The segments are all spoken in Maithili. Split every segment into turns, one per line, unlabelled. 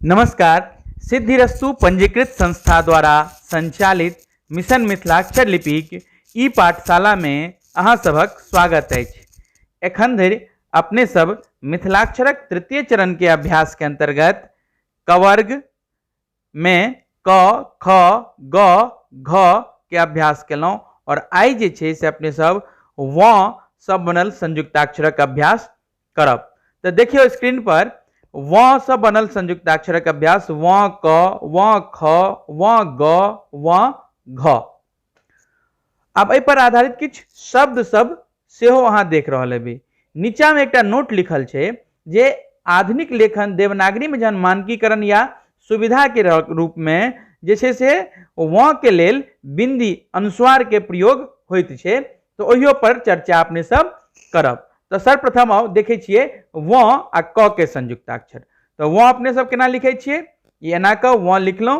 नमस्कार सिद्धिरस्सु पंजीकृत संस्था द्वारा संचालित मिशन मिथिलाक्षर लिपिक ई पाठशालामे अहाँ सभक स्वागत अछि एखन धरि अपने सब मिथिलाक्षरक तृतीय चरणके अभ्यासके अन्तर्गत कवर्ग मे क ख ग घ के अभ्यास केलहुँ आओर आइ जे छै से अपने सब व सँ बनल संयुक्ताक्षरक अभ्यास करब तऽ देखियौ स्क्रीन पर व सँ बनल संयुक्ताक्षरक अभ्यास व क व ख व ग व घ आब एहि पर आधारित किछु शब्द सब सेहो अहाँ देख रहल हेबै नीचा में एकटा नोट लिखल छै जे आधुनिक लेखन देवनागरी में जहन मानकीकरण या सुविधा के रूप में जे छै से वँ के लेल बिंदी अनुस्वार के प्रयोग होइत छै तऽ ओहियो पर चर्चा अपने सब करब तऽ सर्वप्रथम आउ देखै छियै वँ आ क के संयुक्ताक्षर तऽ वँ अपने सब केना लिखै छियै ई एना कऽ वँ लिखलहुँ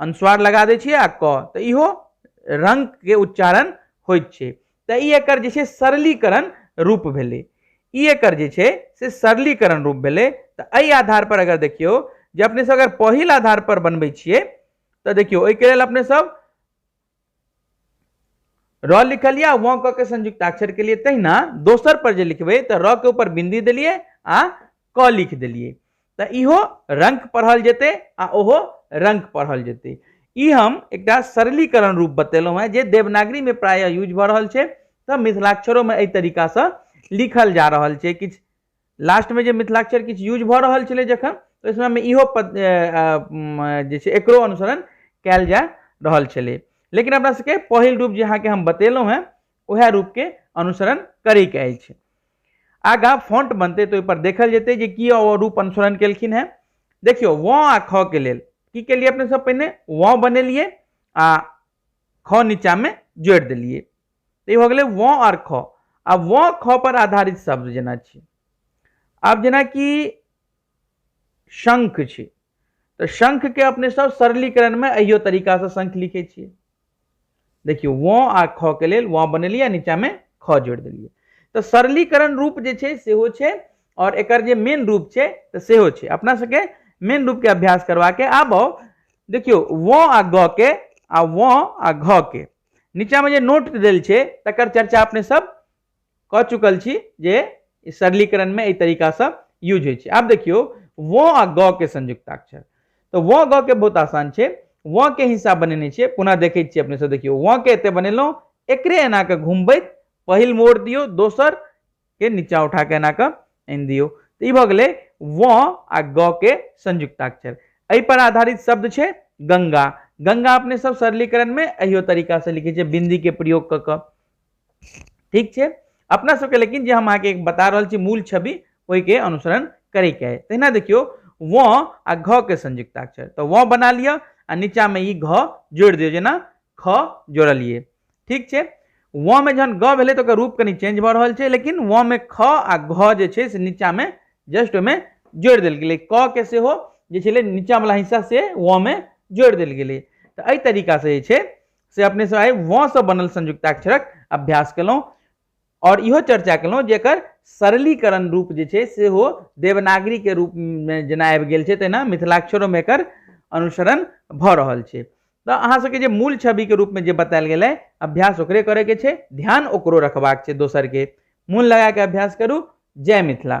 अनुस्वार लगा दै छियै आ क तऽ इहो रंगके उच्चारण होइत छै तऽ ई एकर जे छै सरलीकरण रूप भेलै ई एकर जे छै से सरलीकरण रूप भेलै तऽ एहि आधार पर अगर देखियौ जे अपने सब अगर पहिल आधार पर बनबै छियै तऽ देखियौ एहिके लेल अपने सब र लिखलियै आ वं क के संयुक्ताक्षर के लिए तहिना दोसर पर जे लिखबै तऽ र के ऊपर बिंदी देलियै आ क लिख देलियै तऽ इहो रंक पढ़ल जेतै आ ओहो रंक पढ़ल जेतै ई हम एकटा सरलीकरण रूप बतेलहुँ हेँ जे देवनागरीमे प्रायः यूज भऽ रहल छै तऽ मिथिलाक्षरोमे एहि तरीकासँ लिखल जा रहल छै किछु लास्टमे जे मिथिलाक्षर किछु यूज भऽ रहल छलै जखन ओहि समयमे इहो पद ए, अ, म, जे छै एकरो अनुसरण कयल जा रहल छलै लेकिन अपना सबके पहिल रूप जे अहाँके हम बतेलहुँ हेँ उएह रूपके अनुसरण करैके अछि आगाँ फॉन्ट बनतै तऽ ओहिपर देखल जेतै जे की ओ रूप अनुसरण केलखिन हेँ देखियौ व आ ख के लेल की केलियै अपने सब पहिने व बनेलियै आ ख नीचामे जोड़ि देलियै तऽ ई हो गेलै वँ आओर ख आ वँ ख पर आधारित शब्द जेना छी आब जेनाकि शंख छी तऽ शंखके अपने सब सरलीकरणमे अहियो तरीकासँ शंख लिखै छियै देखियौ वँ आ ख के लेल वँ बनेलियै आ नीचाँमे ख जोड़ि देलियै तऽ सरलीकरण रूप जे छै सेहो छै आओर एकर जे मेन रूप छै तऽ सेहो छै अपना सबके मेन रूपके अभ्यास करबाके आब आउ देखियौ वँ आ ग के आ वँ आ घ के नीचा में जे नोट देल छै तकर चर्चा अपने सब कऽ चुकल छी जे ई सरलीकरण में एहि तरीका से यूज होइ छै आब देखियौ व आ ग के संयुक्ताक्षर तऽ व ग के बहुत आसान छै व के हिसाब बनेने छियै पुनः देखै छियै अपने सब देखियौ व के एते बनेलहुँ एकरे एना कऽ घुमबैत पहिल मोड़ दियौ दोसर के नीचा उठा के एना कऽ आनि दियौ तऽ ई भऽ गेलै व आ ग के संयुक्ताक्षर एहि पर आधारित शब्द छै गंगा गंगा अपने सब सरलीकरण में अहियो तरीका से लिखे छै बिंदी के प्रयोग कऽ कऽ ठीक छै अपना सबके लेकिन जे हम अहाँके बता रहल छी मूल छवि ओहिके अनुसरण करैके अइ तहिना देखियौ व आ घ के संयुक्ताक्षर तऽ व बना लिअ आ नीचामे ई घ जोड़ि दियौ जेना ख जोड़लियै ठीक छै व में जहन ग भेलै तऽ ओकर रूप कनि चेंज भऽ रहल छै लेकिन व में ख आ घ जे छै से नीचा में जस्ट ओहिमे जोड़ि देल गेलै क के सेहो जे छलै नीचा वाला हिस्सा से व में जोड़ि देल गेलै तऽ एहि तरीका से जे छै से अपने सब आइ व से बनल संयुक्ताक्षरक अभ्यास केलहुँ आओर इहो चर्चा केलहुँ जे एकर सरलीकरण रूप जे छै सेहो देवनागरीके रूपमे जेना आबि गेल छै तहिना मिथिलाक्षरोमे एकर अनुसरण भऽ रहल छै तऽ अहाँ सबके जे मूल छविके रूपमे जे बतायल गेलै अभ्यास ओकरे करैके छै ध्यान ओकरो रखबाक छै दोसरके मोन लगाके अभ्यास करू जय मिथिला